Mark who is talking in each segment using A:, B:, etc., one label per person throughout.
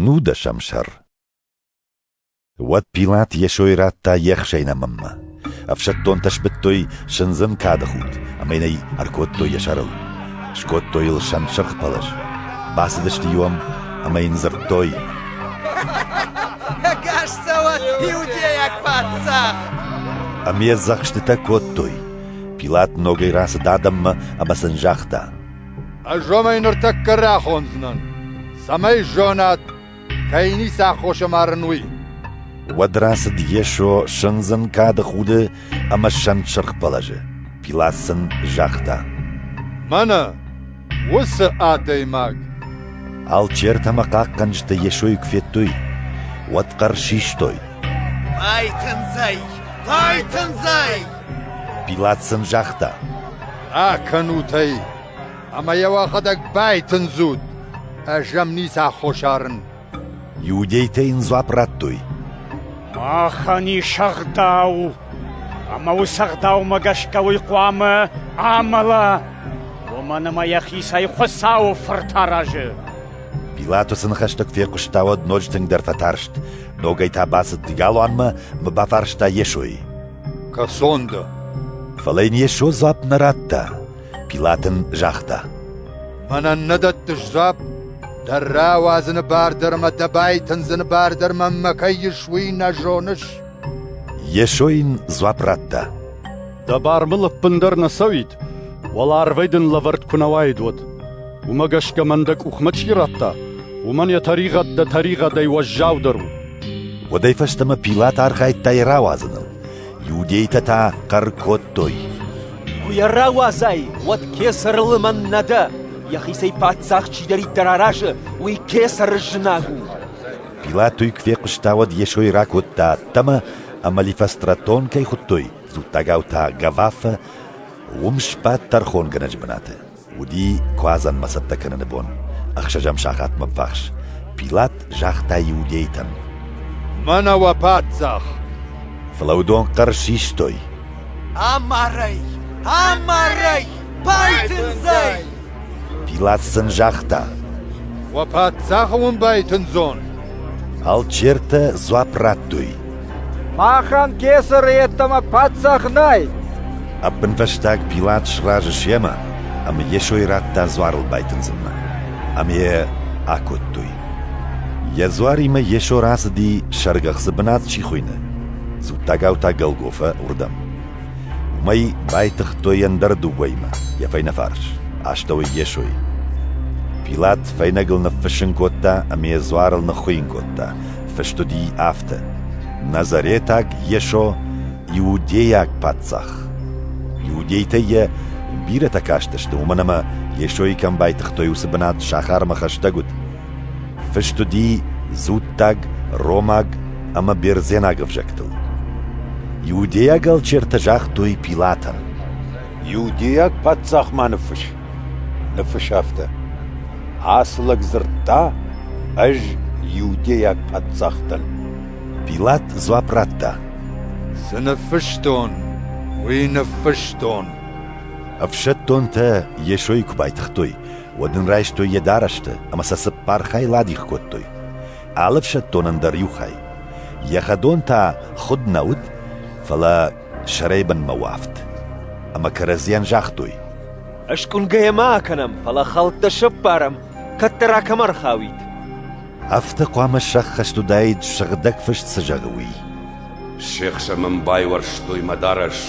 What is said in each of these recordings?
A: Нудӕсӕм сӕр Уӕд Пилат Йесойы радта ехсӕй нӕмынмӕ. Ӕфсӕддонтӕ сбыдтой сындзын кады худ, ӕмӕ йын ӕй ӕркодтой йӕ сӕрыл. Скодтой йыл сӕнсырх пӕлӕз. Бацыдысты-иу ӕм ӕмӕ йын дзырдтой: Ӕгас цӕуӕд иудейаг паддзах! Ӕмӕ йӕ дзӕхстытӕ кодтой. Пилат ногӕй рацыд адӕммӕ ӕмӕ сын загъта: Ӕз уомӕй нуртӕккӕ рахондзӕнӕн, цӕмӕй зонат, кӕй ницы аххос ӕмарын, уый. Уӕд рацыд Йесо сындзын кады худы ӕмӕ сӕнтсырх бӕлӕжы. Пилат сын загъта: «Мӕнӕ уыцы адӕймаг!» Алчертӕ ӕмӕ хъахъхъӕнджытӕ Йесойы куы федтой, уӕд хъӕр систой: «Байтындзӕй! Байтындзӕй!» Пилат сын загъта: «Акӕнут ӕй ӕмӕ йӕ уӕхӕдӕг байтындзут, ӕз ӕм ницы аххос арын». Иудейтӕ йын дзуапп радтой: «Махӕн ис ӕгъдау, ӕмӕ уыцы ӕгъдаумӕ гӕсгӕ уый хъуамӕ амӕла, уымӕн ӕмӕ йӕхицӕй Хуыцауы Фырт аразы». Пилат уыцы ныхӕстӕ куы фехъуыста, уӕд ноджы тынгдӕр фӕтарст. Ногӕй та бацыд галуанмӕ ӕмӕ бафарста Йесойы: Кӕсон дӕ. Фӕлӕ йын Йесо дзуапп нӕ радта. Пилат ын загъта. Мӕнӕн нӕ дӕттыс дзуапп. Дӕ рауадзыны бар дӕр мӕ дӕ байтындзыны бар дӕр мӕнмӕ кӕй ис, уый нӕ зоныс? Йесо йын дзуапп радта. Дӕ бар мыл ӕппындӕр нӕ цӕуид, уӕлӕ арвӕй дын лӕвӕрд куы нӕ уаид, уӕд. Уымӕ гӕсгӕ мӕн дӕ къухмӕ чи радта, уымӕн йӕ тӕригъӕд дӕ тӕригъӕдӕй уӕззаудӕр у. Уӕдӕй фӕстӕмӕ Пилат архайдта йӕ рауадзыныл. Иудейтӕ та хъӕр кодтой. Куы йӕ рауадзай, уӕд кесӕры лымӕн нӕ дӕ. Йӕхицӕй паддзах чидӕриддӕр аразы, уый кесӕры знаг у. Пилат уый куы фехъуыста, уӕд Йесойы ракодта ӕддӕмӕ, ӕмӕ Лифостратон кӕй хуыдтой, дзуттагау та Гавафӕ, уым сбадт тӕрхонгӕнӕджы бынаты. Уыди куадзӕнмӕ цӕттӕ кӕныны бон, ӕхсӕзӕм сахатмӕ ввахс. Пилат загъта иудейтӕн: «Мӕнӕ уӕ паддзах!» Фӕлӕудон хъӕр систой: «Амарӕй! Амарӕй! Байтындзӕй!» Пилат сын загъта: «Уӕ паддзахы уын байтындзон!» Алчертӕ дзуапп радтой: Махӕн кесӕры йеддӕмӕ паддзах нӕй! Ӕппынфӕстаг Пилат сразы семӕ ӕмӕ Йесойы радта дзуарыл байтындзынмӕ, ӕмӕ йӕ акодтой. Йӕ дзуаримӕ Йесо рацыди, сӕргӕхцы бынат чи хуыйны, дзуттагау та Голгофӕ, уырдӕм. Уымӕй байтыгътой ӕндӕр дыууӕимӕ йӕ фӕйнӕфарс, астӕуӕй Йесойы. Пилат фӕйнӕгыл ныффыссын кодта ӕмӕ йӕ дзуарыл ныххуыйын кодта, фыст уыди афтӕ: «Назаретаг Йесо иудейаг паддзах». Иудейтӕ йӕ бирӕтӕ кастысты, уымӕн ӕмӕ Йесойы кӕм байтыгътой, уыцы бынат сахармӕ хӕстӕг уыд. Фыст уыди дзуттаг, ромаг ӕмӕ бердзенаг ӕвзӕгтыл. Иудейаг алчертӕ загътой Пилатӕн: «Иудейаг паддзах ма ныффысс!» Ныфыс афтӕ: Ацы лӕг дзырдта, ӕз иудейаг паддзах дӕн. Пилат дзуапп радта: Цы ныффыстон, уый ныффыстон. Ӕфсӕддонтӕ Йесойы куы байтыгътой, уӕд ын райстой йӕ дарӕсты ӕмӕ сӕ цыппар хайыл адих кодтой, алы ӕфсӕддонӕн дӕр иу хай. Йӕ хӕдон та худ нӕ уыд, фӕлӕ сӕрӕй бынмӕ уафт. Ӕмӕ кӕрӕдзийӕн загътой: «Скъуынгӕйӕ ма акӕнӕм, фӕлӕ хӕлттӕ сӕппарӕм, кӕддӕр акӕм ӕрхауид». Афтӕ хъуамӕ сӕххӕст уыдаид, сыгъдӕг фыст цы зӕгъы, уый. «Се хсӕн мын байуӕрстой мӕ дарӕс,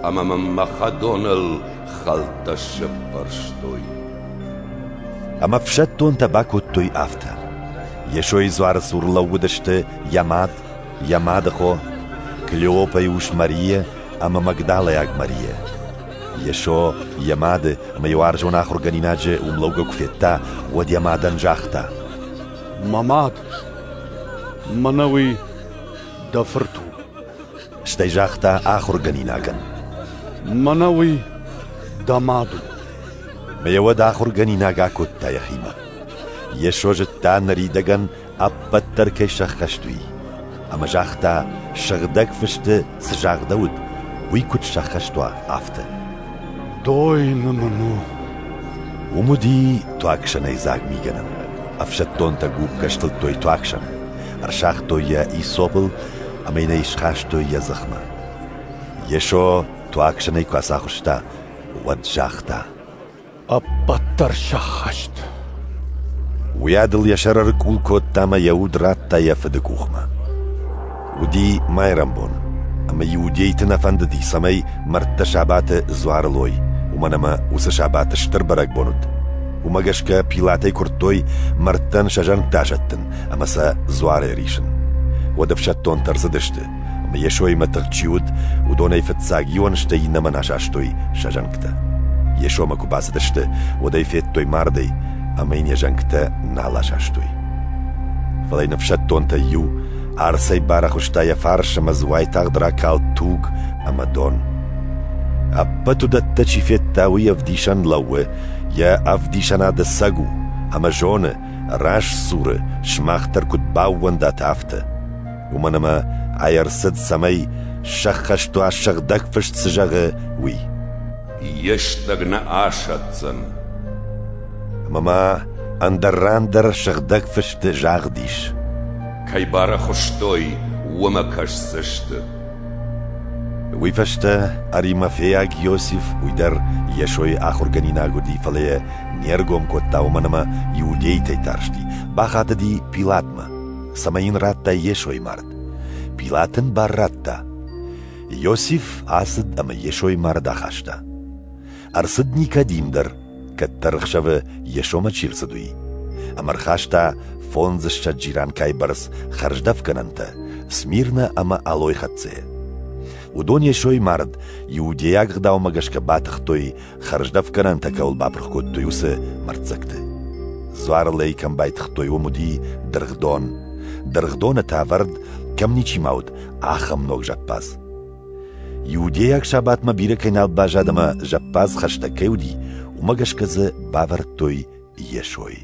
A: ӕмӕ мын мӕ хӕдоныл хӕлттӕ сӕппӕрстой». Ӕмӕ ӕфсӕддонтӕ бакодтой афтӕ. Йесойы дзуары цур лӕууыдысты йӕ мад йӕ мадыхо Клеопӕйы ус Марийӕ ӕмӕ магдалайаг Марийӕ. Йесо йӕ мады ӕмӕ йӕ уарзон ахуыргӕнинаджы уымлӕугӕ куы федта, уӕд йӕ мадӕн загъта: «Мӕ мад, мӕнӕ уый дӕ фырт у». Стӕй загъта ахуыргӕнинагӕн: «Мӕнӕ уый дӕ мад у». Ӕмӕ йӕ уӕд ахуыргӕнинаг акодта йӕхимӕ. Йесо зыдта ныридӕгӕн ӕппӕт дӕр кӕй сӕххӕст уый, ӕмӕ загъта, сыгъдӕг фысты цы загъдӕуыд, уый куыд сӕххӕст уа, афтӕ. Дойны мын у. Уым уыди туагсӕнӕй дзаг мигӕнӕн. Ӕфсӕддонтӕ гуыппгӕ стылдтой туагсӕн, ӕрсагътой йӕ исопыл ӕмӕ йын ӕй схастой йӕ дзыхмӕ. Йесо туагсӕнӕй куы ацахуыста, уӕд загъта: Ӕппӕтдӕр сӕххӕст. Уӕд ыл йӕ сӕр ӕркъул кодта ӕмӕ йӕ уд радта йӕ фыды къухмӕ. Уыди майрӕмбон, ӕмӕ иудейты нӕ фӕндыди, цӕмӕй мӕрдтӕ сабаты дзуары лой, уымӕн ӕмӕ уыцы сабат стыр бӕрӕгбон уыд. Уымӕ гӕсгӕ Пилатӕй куырдтой мӕрдтӕн сӕ зӕнгтӕ азӕттын ӕмӕ сӕ дзуары рисын. Уӕд ӕфсӕддонтӕ ӕрцыдысты, ӕмӕ Йесоимӕ тыхт чи уыд, уыдонӕй фыццаг иуӕн стӕй иннӕмӕн асастой сӕ зӕнгтӕ. Йесомӕ куы бацыдысты, уӕд ӕй федтой мардӕй, ӕмӕ йын йӕ зӕнгтӕ нал асастой. Фӕлӕ йын ӕфсӕддонтӕй иу арцӕй барӕхуыста йӕ фарс ӕмӕ дзы уайтагъд ракалд туг ӕмӕ дон. Ӕппӕт уыдӕттӕ чи федта, уый ӕвдисӕн лӕууы, йӕ ӕвдисӕнады сӕг у, ӕмӕ зоны, раст суры, сымах дӕр куыд баууӕндат, афтӕ. уымӕн ӕмӕ ай ӕрцыд, цӕмӕй сӕххӕстуа сыгъдӕг фыст цы зӕгъы, уый. Йе стӕг нӕ асӕтдзӕн. Ӕмӕ ма ӕндӕр ран дӕр сыгъдӕг фысты загъд ис. Кӕй барӕхуыстой, уымӕ кӕсдзысты. Уый фӕстӕ аримафейаг Иосиф уый дӕр Йесойы ахуыргӕнинаг уыди, фӕлӕ йӕ не ргом кодта, уымӕн ӕмӕ иудейтӕй тарсти. Бахатыди Пилатмӕ. цӕмӕй йын радта йе сой мард. Пилат ын бар радта. Иосиф ацыд ӕмӕ йе сой мард ахаста. Ӕрцыд Никодим дӕр, кӕддӕр ӕхсӕвы йе сомӕ чи рцыд, уый. Ӕмӕ рхаста фондзыссӕдз джиранкайы бӕрц хӕрздӕфгӕнӕнтӕ Смирна ӕмӕ Алой хӕццӕйӕ. Уыдон Йесойы мард Иудейаг ӕгъдаумӕ гӕсгӕ батыхтой хӕрздӕфгӕнӕнтӕ кӕуыл бапырх кодтой, уыцы мӕрддзӕгты. Дзуарыл ӕй кӕм байтыгътой, уым уыди дыргъдон. Дыргъдоны та вӕрд кӕм ничи ма уыд, ахӕм ног зӕппадз. Иудейаг сабатмӕ бирӕ кӕй нал баззад ӕмӕ зӕппадз хӕстӕг кӕй уыди, уымӕ гӕсгӕ дзы бавӕрдтой Йесойы.